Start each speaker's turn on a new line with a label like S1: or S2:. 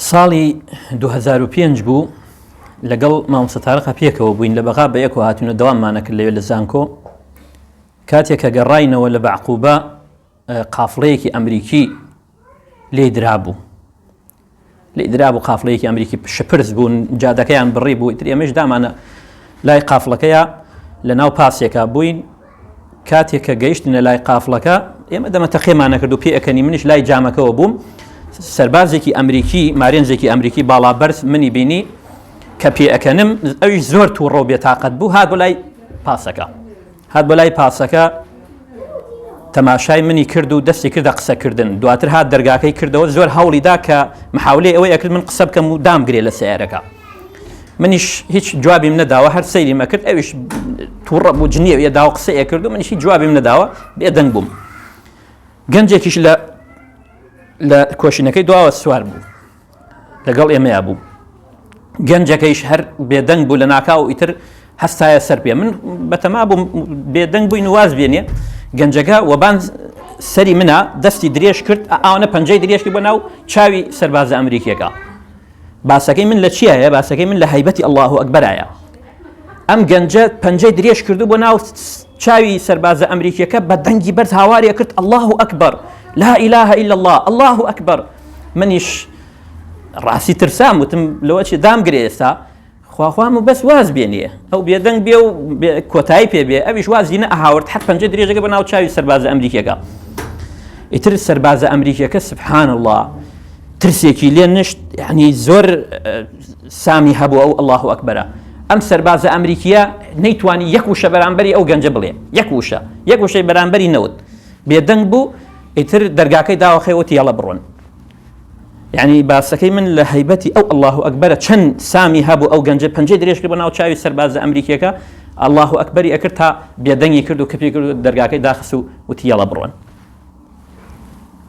S1: ساڵی دوو هەزار و پێنج بوو لەگەڵ مامۆستا تارقە پێکەوە بووین لە بەغا بە یەکەوە هاتوونە دەواممانە کرد لەوێ لە زانکۆ کاتێک کە گەڕاینەوە لە بەعقوبە قافڵەیەکی ئەمریکی لێ درابوو لێ درابوو قافلەیەکی ئەمریکی شپرس بوون جادەکەیان بڕی بوو تر ئێمەش دامانە لای قافلەکەیە لە ناو پاسێکا بووین کاتێک کە گەیشتنە لای قافڵەکە ئێمە دەمە تەقێمان نەکرد و پێ ئەەکەنی منیش لای جامەکەەوە بووم سربازێکی ئەمریکی مارێنجێکی ئەمریکی باڵا بەرز منی بینی کە پێ ئەەکەنم ئەوی زۆر تووڕە بێتاقەت بوو هات بۆ لای پاسەکە هات بۆ لای پاسەکە تەماشای منی کرد و دەستی کردە قسەکردن دواتر هات دەرگاکەی کردەوە زۆر هەوڵیدا کە محاولەی ئەوەی ئەکرد من قسە بکەم و دامگرێ لە سیارەکە منیش هیچ جوابیم نەداوە هەر سەیریم ئەکرد ئەویش تووڕە بوو جنیە یە داوە قسە ئەکرد و منیشی جوابیم نەداوە بێدەنگ بووم گەنجێکیش لە لە کۆشینەکەی دواوە سوار بوو لەگەڵ ئێمەیا بوو گەنجەکەیش هەر بێدەنگ بوو لە ناکاو ئیتر هەستایە سەر پێ من بەتەما بووم بێدەنگ بووین واز بێنێ گەنجەکە وەبان سەری منە دەستی درێژ کرد ئاوانە پەنجەی درێژکی بۆ ناو چاوی سەربازە ئەمریکیەکە باسەکەی من لە چیایە باسەکەی من لە هەیبەتی ئەله و ئەکبەرایە ئەم گەنجە پەنجەی درێژ کردو بۆ ناو چاوی سەربازە ئەمریکیەکە بە دەنگی بەرز هاوارێ کرد ئەله و ئەکبەر لا ئیلاهە إلا الله ئەله و ئەکبەر منیش ڕاستی ترسام وتم لەوەچی دامگرێ ئێستا خواخوام و بەس واز بێنێ ئەو بێدەنگ بێ و کۆتایی پێ بێ ئەویش وازی نە ئەهاورد حەت پەنجە درێژەکە بە ناو چاوی سەربازە ئەمریکیەکە ئیتر سەربازە ئەمریکیەکە سبحان الله ترسێکی لێ نشت یعنی زۆر سامی هەبوو ئەو الله و ئەکبەرە ئەم سەربازە ئەمریکیە نەیتوانی یەک وشە بەرامبەری ئەو گەنجە بڵێ یەک وشە یەک وشەی بەرامبەری نەوت بێدەنگ بوو ئیتر دەرگاکەی داوەخەوەتی یاڵە بڕۆن یانی باسەکەی من لە هەیبەتی ئەو اللە و ئەکبەرە چەند سامی هەبوو ئەو گەنجە پەنجەی درێژ کرد بە ناو چاوی سەربازە ئەمریکیەکە اللە و ئەکبەری ئەکرد تا بێدەنگی کرد و کپی کرد و دەرگاکەی داخست و وتی یەڵە بڕۆن